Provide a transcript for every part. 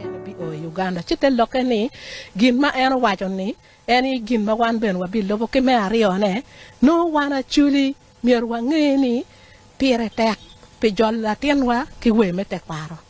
en ebio i Uganda ci te lokke ni gin ma en owaco ni en aye gin ma wan bene wabilubo ki me aryo ne nongo wan Acholi myero wange ni pire tek pi jolo latinwa ki wer me tekwaro.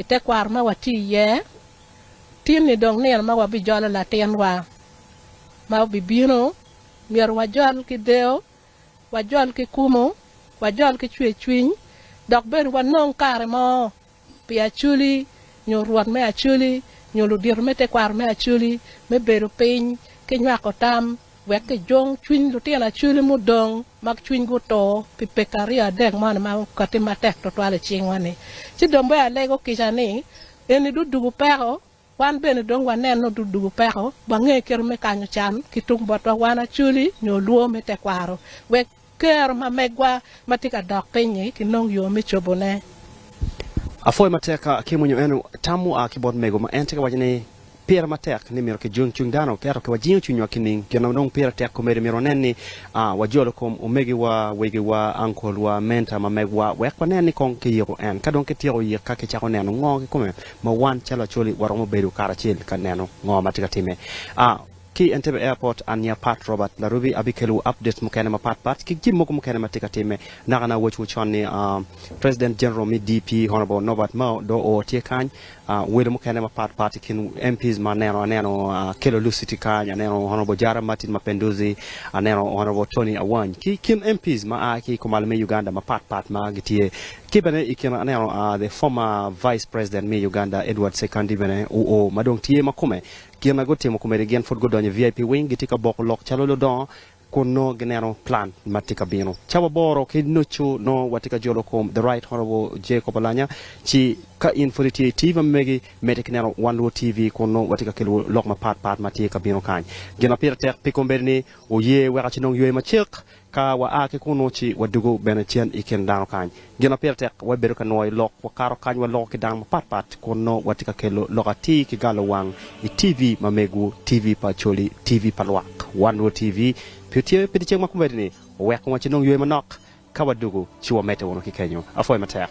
I tekwaro ma watye iye tin-ni dong nino ma wabijolo latinwa ma obibino. Myero wajol ki deyo, wajol ki kumo, wajol ki cwercwiny, dok bene wanong kare mo pi Acholi nyo Rwot me Acholi nyo ludito me tekwaro me Acholi me bedo piny ki nywako tam. Wek kijong cwiny lutino acwele mudong ma cwinygi oto pi peke aryo adek moni ma okatti matek twatwal i cingwa-ni. Ci dong bea alego kica ni, Eni dong dugo peko! Wan bene dong waneno dong dugo peko, wange kite me kanyo can ki tung botwa wan acweli nyo olwo me tekwaro, wek Ker ma megwa ma tye ka dok piny-nyi kinong yo me cobone. Apwoyo matek Kim onyo en tam mua ki bot mego ma en tye ka waco ni pire matek ni myero ki jing cwiny dano ento ki wajingo cwinywa ki ning gin ma dong pire tek komedi myero wanen ni wa jolo kom omegi wa, wegi wa, uncle wa, mentor ma meg wa wek wanen ni kong ki yiko en ka dong ki tyeko yik ka ki cako neno ngo ki kome ma wan calo Acholi wa romo bedo kara acel ka neno ngo ma tye ka time. Ki Entebbe Airport, an nya Pat Robert Larubi abikelwu updates mukene mapat pat ki jami mogo mukene ma tye ka timme. Naka na awacciwu con ni President General me DP Honourable Norbert Mao dong oo tye kany. Welo mukene mapat pat i kin MPs ma aneno, aneno Kello Lusi tye kany, aneno Honourable Jara Martin Mapenduzi, aneno Honourable Tony Awany ki kin MPs ma aa ki kumalo me Uganda mapat pat ma gitye. Ki bene i kine aneno the former Vice President me Uganda Edward Sekandi bene oo ma dong tye ma kome Gin ma gutimo komedi gin pud gudonyo i VIP wing, gitye ka boko lok calo ludongo kun nongo gineno plan ma tye ka bino. Ca waboro ki nucu nongo watye ka jolo kom The Right Honourable Jacob Olanya, ci ka in pud itye i TV ma megi, medde ki neno One Luo TV kun nongo watye ka kelowu lok mapat pat ma tye ka bino kany. Gin ma pire tek pi komedi ni wuye wek aci nongo ywe macek Ka waa ki kunnu ci wadwogo bene cen i kin dano kany. Gin ma pire tek, wabedo ka nwoyo lok, wakato kany, waloko ki dano mapat pat, kun nongo watye ka kelo lok atir ki galo wang i TV ma mego, TV pa Acholi, TV pa lwak, One World TV, pi otyeno pi dyeceng ma komedini, oweko wa ci nongo yweyo manok. Ka wadwogo ci wamedde wunu ki kenyo. Apwoyo matek.